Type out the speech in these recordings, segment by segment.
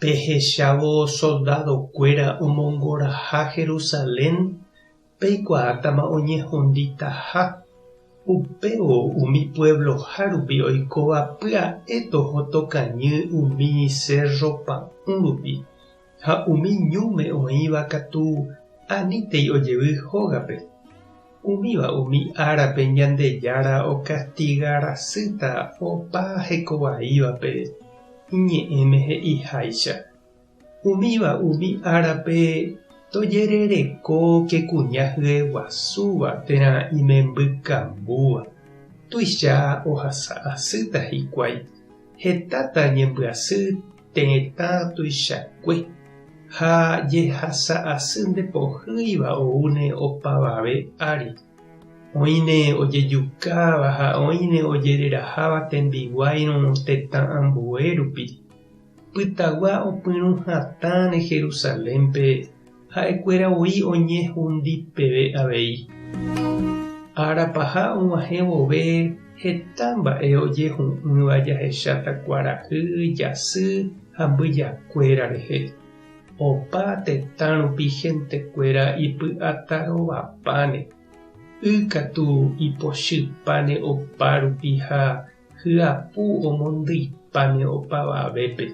Pehechávo soldadokuéra omongoraha Jerusalén, peikuaátama oñehunditaha. Upévo umi puevloha rupi oikóva pya'e toho tokañy umi sérro pa'ũ rupi, ha umi ñúme oĩva katu anítei ojevy hógape. Umíva umi árape Ñandejára okastiga rasýta opa hekovaívape Iñe'ẽme he'iháicha. Umíva umi árape tojerereko ke kuña hyeguasúva térã imembykambúva, tuicha ohasa asýta hikuái, hetáta ñembyasy Tetã tuichakue ha jehasa asy nde pohýiva oúne opavave ári. Oĩne ojejukáva ha oĩne ojereraháva tembiguáirõ tetã ambue rupi. Pytagua opyrũ hatãne Jerusalénpe Ha'ekuéra voi oñehundi peve avei. Ára paha og̃uahẽ vove heta mba'e ojehu'ỹva jahecháta kuarahy, jasy ha mbyjakuéra rehe. Opa tetã rupi hentekuéra ipy'ata rovapáne, y katu ipochypáne opa rupi ha Hyapu omondyi'páne opavavépe,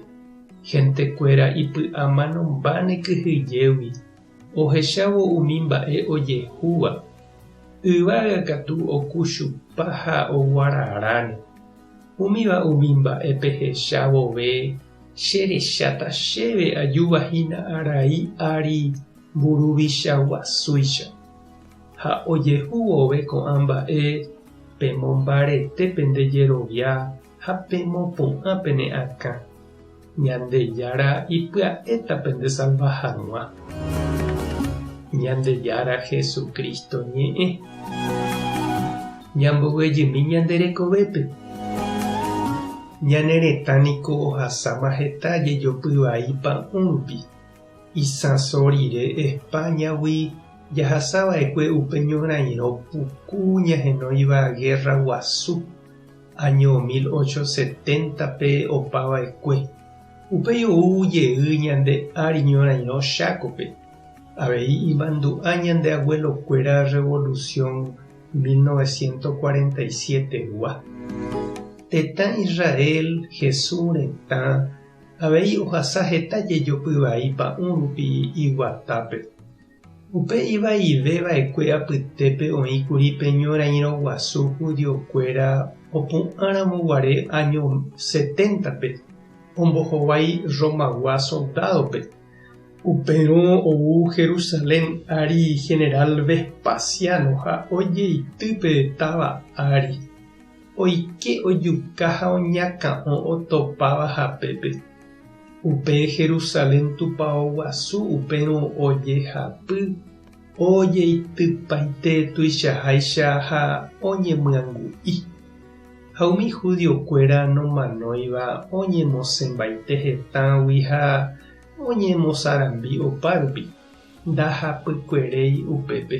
gentekuéra ipy'amanombáne kyhyjégui, ohechávo umi mba'e ojehúva. Yvága katu oku chupa ha oguararáne. Umíva umi mba'e pehecha vove cherecháta chéve ajúva hína arai ári mburuvicha guasúicha. Ha ojehu vove ko'ã mba'e pemombarete pende jerovia ha pemopu'ã pene akã. Ñandejára ipya'éta pendesalva hag̃ua. Ñandejára Jesucristo ñe'ẽ. Ñambovyejymi ñande rekovépe. Ñane retã niko ohasáma heta jejopy vai pa'ũ rupi. Isãso rire España-gui jahasava'ekue upe ñorairõ puku ñahenóiva Guerra Guasu, año 1870-pe opava'ekue. Upéi ou jey ñande ári ñorairõ Chácope, avei imandu'a ñande abuelokuéra revolución 1947-gua. Tetã Israel, Jesús retã. Avei ohasa heta jejopy vai pa'ũ rupi iguatápe. Upe ivaive vaekue apytépe oĩ kuri pe ñorairõ guasu judío kuéra opu'ã ramo guare áño seténtape ombohovái Romagua soldádope. Upérõ ou Jerusalén ári general Vespasiano ha ojeity pe táva ári. oike ojuka ha oñakã'o otopáva hapépe. Upe Jerusalén tupao guasu upérõ ojehapy, ojeitypaite tuichaháicha ha oñemyangu'i. Ha umi judiokuéra nomanóiva oñemosẽmbaite hetãgui ha oñemosarambi opárupi. ndahapykueréi upépe.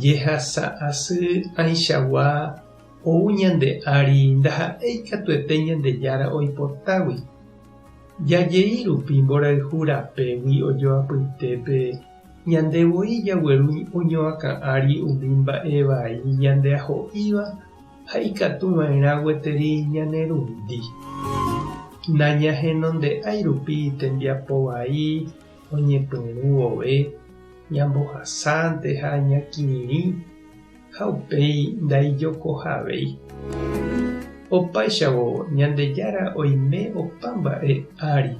Jehasa asy aichagua ou ñande ári ndaha'éi katuete Ñandejára oipotágui. Jajei rupi mborayhu rapégui ojoapytépe, ñande voi jagueru oñoakã ári umi mba'e vai ñande aho'íva ha ikatu va'erã gueteri ñanerundi. Nañahenonde'ái rupi tembiapo vai oñepyrũ vove, ñambohasánte ha ñakirirĩ ha upéi ndaijokohavéi. Opáichavo Ñandejára oime opa mba'e ári,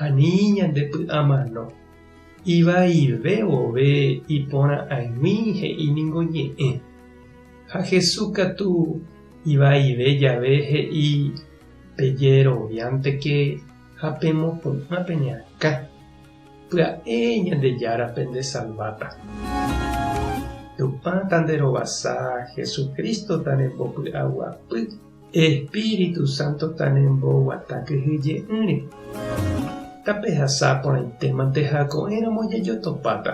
ani ñandepy'amano, ivaive vove iporã'aig̃ui he'i ningo ñe'ẽ. Ha Jesús katu ivaive jave he'i, Pejeroviánteke ha pemopu'ã pene akã. Pya'e Ñandejára pendesalváta. Tupã tanderovasa, Jesucristo tanembopy'aguapy. Espíritu Santo tanemboguata kyhyje'ỹre, tapehasa porãitémante ha ko'ẽramo jajotopáta.